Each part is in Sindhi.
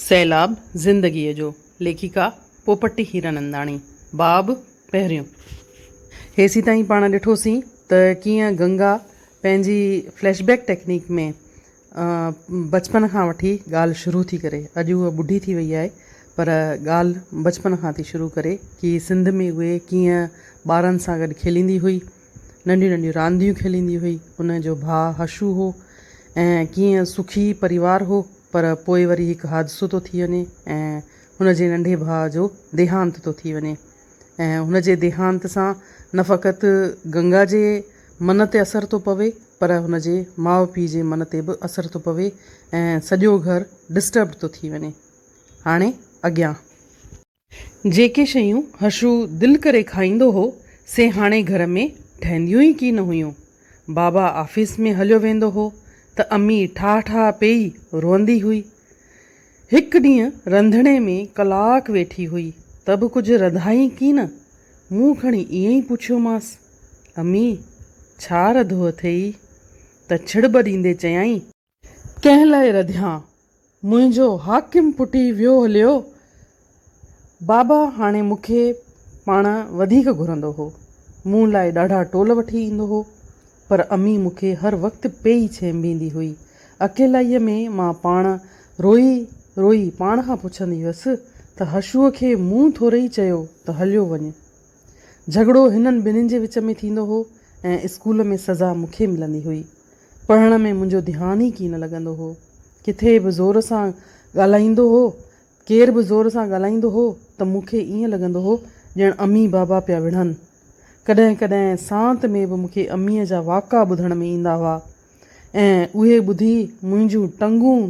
سيلاب زندگيء جو، ليکڪا پوپٽ هيراننداڻي، باب پهريون. هيسين تائين پاڻ ڏٺوسين ته ڪيئن گنگا پنهنجي فليش بيڪ ٽيڪنيڪ ۾ بچپن کان وٺي ڳالهه شروع ٿي ڪري. اڄ هوء ٻڍي ٿي وئي آهي پر ڳالهه بچپن کان ٿي شروع ڪري ڪي سنڌ ۾ هوء ڪيئن ٻارن سان گڏ کيليندي هئي، ننڍيون ننڍيون رانديون کيليندي هئي. ان جو ڀاء حشو هو ۽ ڪيئن سکي پريوار هو پر پوء وري هڪ حادثو ٿو ٿي وڃي ۽ هن جي ننڍي ڀاء جو ديهانت ٿو ٿي وڃي ۽ هن جي ديهانت سان نه فقط گنگا جي من تي اثر ٿو پوي پر هن جي ماء پيء جي من تي به اثر ٿو پوي ۽ سڄو گهر ڊسٽربڊ ٿو ٿي وڃي. هاڻي اڳيان. جيڪي شيون حشو دل ڪري کائيندو هو، سي هاڻي گهر ۾ ٺهنديون ئي ڪين هيون. بابا آفيس ۾ هليو ويندو هو ته امي ٺاهه ٺاهه پيئي روئندي هئي. هڪ ڏينهن رنڌڻي ۾ ڪلاڪ ويٺي هئي ته به ڪجهه رڌائين ڪين. مون کڻي ائين ئي پڇيومانس، امي! ڇا رڌو اٿيئي؟ ته ڇڙٻ ڏيندي چيائين. ڪنهن لاء رڌيان، منهنجو حاڪم پٽي ويو هليو. بابا هاڻي مون کي پاڻ وڌيڪ گهرندو هو. مون لاء ڏاڍا ٽول وٺي ايندو هو. پر امي مون کي هر وقت پئي ڇينڀيندي هئي. اڪيلائيء ۾ مان پاڻ روئي روئي پاڻ کان پڇندي هيس ته هشوء کي مون ٿورئي چيو ته هليو وڃ. جهڳڙو هنن ٻنهين جي وچ ۾ ٿيندو هو ۽ اسڪول ۾ سزا مون کي ملندي هئي. پڙهڻ ۾ منهنجو ڌيان ئي ڪين لڳندو هو. ڪٿي به زور سان ڳالهائيندو هو، ڪير به زور سان ڳالهائيندو هو ته مون کي ائين لڳندو هو ڄڻ امي بابا پيا وڙهن. ڪڏهن ڪڏهن سانت ۾ به مون کي اميء جا واڪا ٻڌڻ ۾ ايندا هئا ۽ اهي ٻڌي منهنجون ٽنگون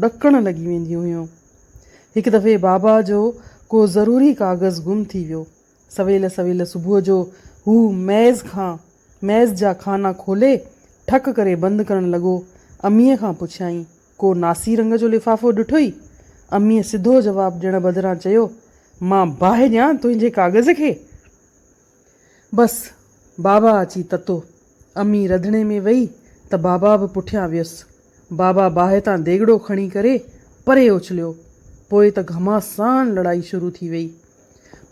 ڏڪڻ لڳي وينديون هيون. هڪ دفعي بابا جو ڪو ضروري ڪاغذ گم ٿي ويو. سويل سويل صبح جو هو ميز کان ميز جا خانا کولي ٺڪ ڪري بند ڪرڻ لڳو. اميء کان پڇيائين، ڪو ناسي رنگ جو لفافو ڏٺوئي؟ اميء سڌو جواب ڏيڻ بدران چيو، مان باهه ڏيان تنهنجي ڪاغذ کي؟ بس، بابا اچي تتو. امي رڌڻي ۾ ويئي ته بابا به پٺيان ويس. بابا باهه تان ديڳڙو کڻي ڪري پري اڇليو. پوء ته گهماسان لڙائي شروع ٿي ويئي.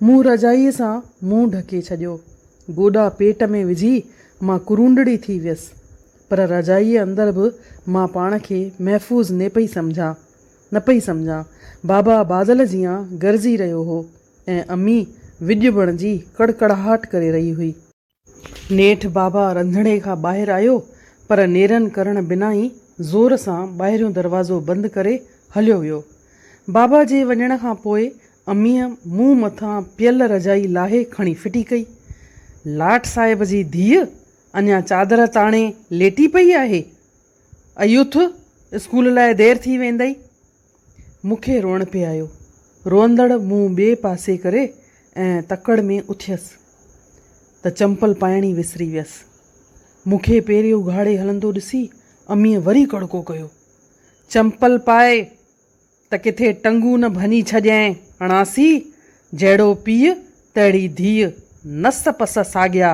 مون رضائيء سان منهن ڍڪي ڇڏيو. گوڏا پيٽ ۾ وجهي مان ڪرونڊڙي ٿي ويس. پر رضائيء اندر به مان پاڻ کي محفوظ ني پئي سمجهان. نه پئي سمجهان. بابا بادل جيان گرجي رهيو هو. ۽ امي وڄ بڻجي ڪڙڪڙاهٽ ڪري رهي هئي. نيٺ بابا رنڌڻي کان ٻاهر آيو، پر نيرن ڪرڻ بنا ئي زور سان ٻاهريون دروازو بند ڪري هليو ويو. بابا جي وڃڻ کان پوء اميء منهن مٿان پيل رضائي لاهي کڻي ڦٽي ڪئي. لاٽ صاحب جي ڌيء اڃا چادر تاڻي ليٽي پئي آهي. ايوٿ اسڪول لاء دير ٿي ويندئي. مون کي روئڻ پئي آيو. روئندڙ منهن ٻئي پاسي ڪري ۽ تڪڙ ۾ اٿيس ته چمپل پائڻ ئي وسري ويس. مون کي پيري اگهاڙي هلندو ڏسي اميء وري ڪڙڪو ڪيو. چمپل پائي ته ڪٿي ٽنگون نه ڀڃي ڇڏينء اڻاسي! جهڙو پيء تهڙي ڌيء، نس پس ساڳيا.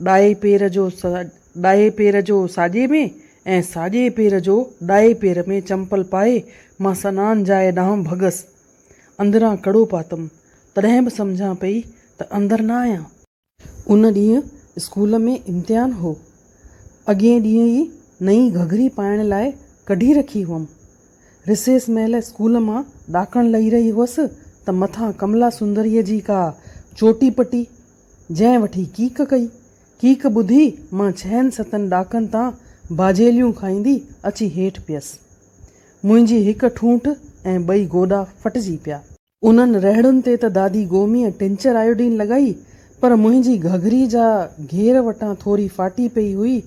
ڏائي پير جو ڏائي پير جو ساڄي ۾ ۽ ساڄي پير جو ڏائي پير ۾ چمپل پائي مان سنان جاء ڏانهن ڀڳس. اندران ڪڙو پاتم. تڏهن به سمجهان پئي ته اندر نه آهيان. ان ڏينهن اسڪول ۾ امتحان هو. اڳئين ڏينهن ئي نئين گهگهري پائڻ لاء ڪڍي رکي هئم. رسيس مهل اسڪول مان ڏاڪڻ لهي رهي هئس ته مٿان ڪملا سندريء جي ڪا چوٽي پٽي جنهن وٺي ڪيڪ ڪئي. ڪيڪ ٻڌي مان ڇهن ستن ڏاڪن تان باجهيليون کائيندي اچي هيٺ پيس. منهنجي هڪ ٺونٺ ۽ ٻئي گوڏا ڦٽجي پيا. انهن رهڙن تي ته دادي گوميء ٽنچر آيوڊين لڳائي پر منهنجي گهگهري جا گهير وٽان ٿوري ڦاٽي پئي هئي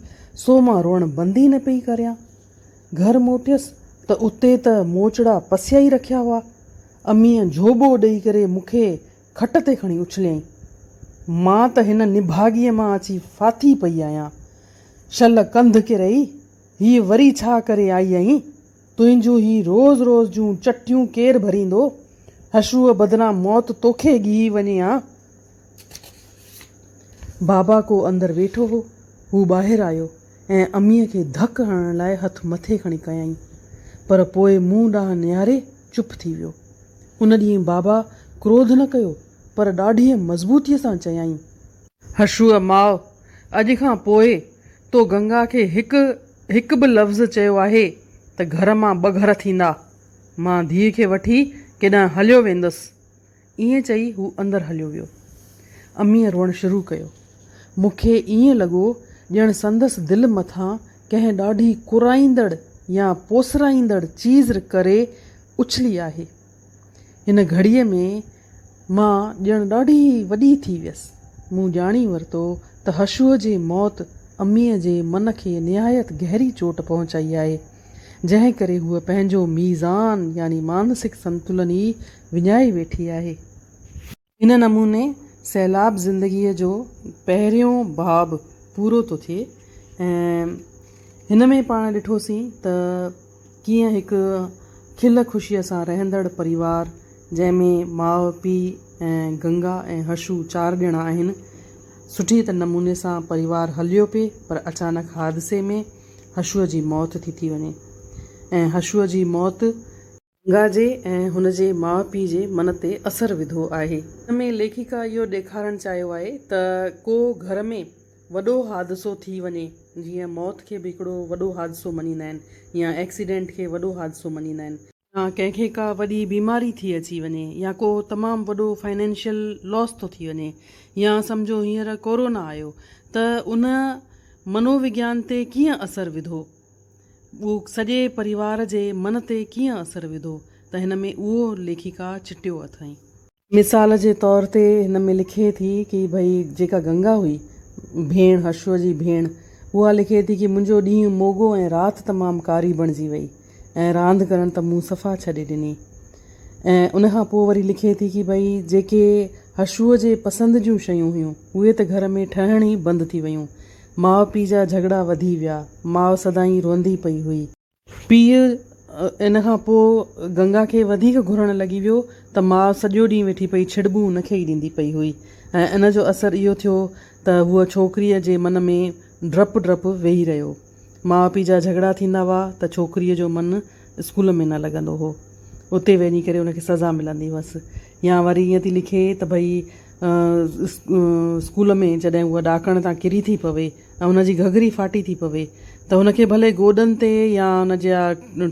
سو مان روئڻ بند ئي نه پئي ڪريان. گهر موٽيس ته اتي ته موچڙا پسيائي رکيا هئا. اميء جهوٻو ڏئي ڪري مون کي کٽ تي کڻي اڇليائين. مان ته هن نڀاڳيء مان اچي ڦاٿي پئي آهيان. شل ڪنڌ ڪرئي، هيء وري ڇا ڪري آئي آهين؟ تنهنجون هي روز روز جون چٽيون ڪير ڀريندو؟ حشوء بدران موت توکي ڳهي وڃي ها. بابا ڪو اندر ويٺو هو. هو ٻاهر آيو. ۽ اميء کي ڌڪ هڻڻ لاء هٿ مٿي کڻي ڪيائين، پر پوء مون ڏانهن نهاري چپ ٿي ويو. ان ڏينهن بابا ڪروڌ نه ڪيو، پر ڏاڍيء مضبوطيء سان چيائين. هرشوء ماء! اڄ کان پوء تو گنگا کي هڪ هڪ به لفظ چيو آهي ته گهر مان ٻه گهر ٿيندا. مان ڌيء کي وٺي ڪيڏانهن هليو ويندس. ائين چئي هو اندر هليو ويو. اميء روئڻ شروع ڪيو. مون کي ائين لڳو ڄڻ سندس دل مٿان ڪنهن ڏاڍي ڪرائيندڙ يا پوسرائيندڙ چيز ڪري اڇلي آهي. هن گهڙيء ۾ مان ڄڻ ڏاڍي وڏي ٿي ويس. مون ڄاڻي ورتو ته هشوء جي موت اميء جي من کي نهايت گهري چوٽ پهچائي آهي، جنهن ڪري هوء پنهنجو ميزان يعني مانسڪ سنتلن ئي وڃائي ويٺي آهي. ان نموني سيلاب زندگيء جو پهريون باب پورو ٿو ٿئي ۽ هن ۾ پاڻ ڏٺوسين ته ڪيئن هڪ کل خوشيء سان رهندڙ پريوار جنهن ۾ ماء، پيء ۽ گنگا ۽ هشو چار ڄڻا آهن، سٺي ته نموني سان پريوار هليو پئي پر اچانڪ حادثي ۾ هشوء جي موت ٿي ٿي وڃي ۽ هشوء جي موت ۽. گنگا جي ۽ هن جي ماء پيء جي من تي اثر وڌو آهي. هن ۾ ليکڪا اهو ڏيکارڻ چاهيو آهي ته ڪو گهر ۾ وڏو حادثو ٿي وڃي، جيئن موت کي به هڪڙو وڏو حادثو مڃيندا آهن يا ايڪسيڊنٽ کي وڏو حادثو مڃيندا آهن، يا ڪنهن کي ڪا وڏي بيماري ٿي اچي وڃي يا ڪو تمام وڏو فنانشل لاس ٿو ٿي وڃي يا سمجهو هينئر ڪورونا آيو ته ان منووگيان تي ڪيئن اثر وڌو. سڄي پريوار جي من تي ڪيئن اثر وڌو ته هن ۾ اهو ليکڪا چٽيو اٿائين. مثال جي طور تي هن ۾ لکي ٿي ڪي ڀئي جيڪا گنگا هئي، ڀيڻ، هرشوء جي ڀيڻ، اها لکي ٿي ڪي منهنجو ڏينهن موڳو ۽ رات تمام ڪاري بڻجي وئي ۽ راند ڪرڻ ته مون صفا ڇڏي ڏني ۽ ان کان پوء وري لکي ٿي ڪي ڀئي جيڪي هرشوء جي پسند جون شيون هيون اهي ته گهر ۾ ٺهڻ ئي بند ٿي ويون ماء پيء جا جهڳڙا وڌي ويا. ماء سدائين روئندي پئي هئي. پيء ان کان پوء گنگا کي وڌيڪ گهرڻ لڳي ويو ته ماء سڄو ڏينهن ويٺي پئي ڇڙٻون ان کي ئي ڏيندي پئي هئي ۽ ان جو اثر اهو ٿيو ته هوء ڇوڪريء جي من ۾ ڊپ ڊپ ويهي رهيو. ماء پيء جا جهڳڙا ٿيندا هئا ته ڇوڪريء جو من اسڪول ۾ نه لڳندو هو. اتي وڃي ڪري ان کي سزا ملندي هئس يا وري ائين ٿي لکي ته ڀئي اسڪول ۾ جڏهن هوء ڏاڪڻ تان ڪري ٿي پوي ۽ هن جي گهگهري ڦاٽي ٿي پوي ته هن کي ڀلي گوڏن تي يا هن جا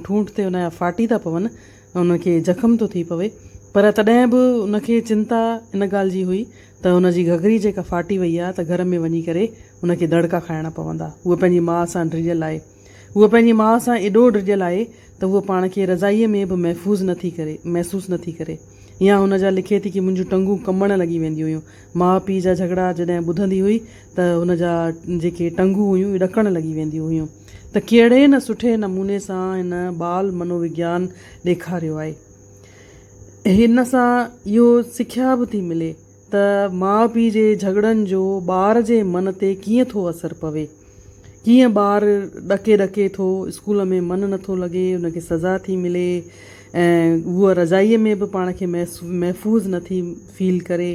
ٺونٺ تي هن جا ڦاٽي ٿا پون هن کي زخم ٿو ٿي پوي پر تڏهن به هن کي چنتا ان ڳالهه جي هئي ته هن جي گهگهري جيڪا ڦاٽي وئي آهي ته گهر ۾ وڃي ڪري هن کي دڙڪا کائڻا پوندا هوء پنهنجي ماء سان ڊڄل آهي هوء پنهنجي ماء سان ايڏو ڊڄل آهي ته هوء پاڻ کي رضائيء ۾ به محفوظ نه ٿي ڪري، محسوس نه ٿي ڪري. يا هن جا لکي ٿي ڪي منهنجون ٽنگون ڪنبڻ لڳي وينديون هيون. ماء پيء جا جهڳڙا جڏهن ٻڌندي هئي ته هن جا جيڪي ٽنگون هيون ڏڪڻ لڳي وينديون هيون ته ڪهڙي نه سٺي نموني سان هن بال منووگيان ڏيکاريو آهي. هن سان اهو سکيا به ٿي ملي. ته ماء پيء جي جهڳڙن جو ٻار جي من تي ڪيئن ٿو اثر پوي. ڪيئن ٻار ڏڪي ڏڪي ٿو، اسڪول ۾ من نٿو لڳي، ان کي سزا ٿي ملي ۽ هوء رضائيء ۾ به پاڻ کي محفوظ نٿي فيل ڪري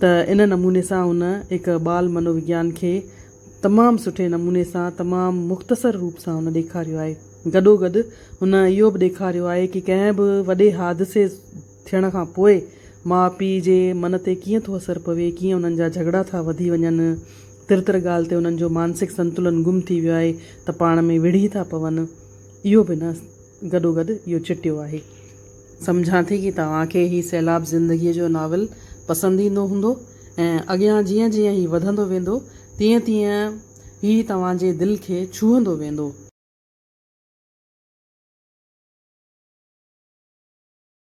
ته ان نموني سان هن هڪ ٻال منووگيان کي تمام سٺي نموني سان تمام مختصر روپ سان هن ڏيکاريو آهي. گڏوگڏ هن اهو به ڏيکاريو آهي ڪي ڪنهن به وڏي حادثي ٿيڻ کان پوء ماء پيء جي من تي ڪيئن ٿو اثر پوي، ڪيئن انهن جا جهڳڙا ٿا وڌي وڃن، تر تر ڳالهه تي انهن جو مانسڪ سنتولن گم ٿي ويو آهي ته پاڻ ۾ وڙهي ٿا پون، اهو به نه گڏوگڏ اهو چٽيو آهي. سمجهان ٿي ته اوهان کي هي سيلاب زندگيء جو ناول پسند ايندو هوندو ۽ اڳيان جيئن جيئن هي وڌندو ويندو تيئن تيئن هي توهان جي دل کي ڇهندو ويندو.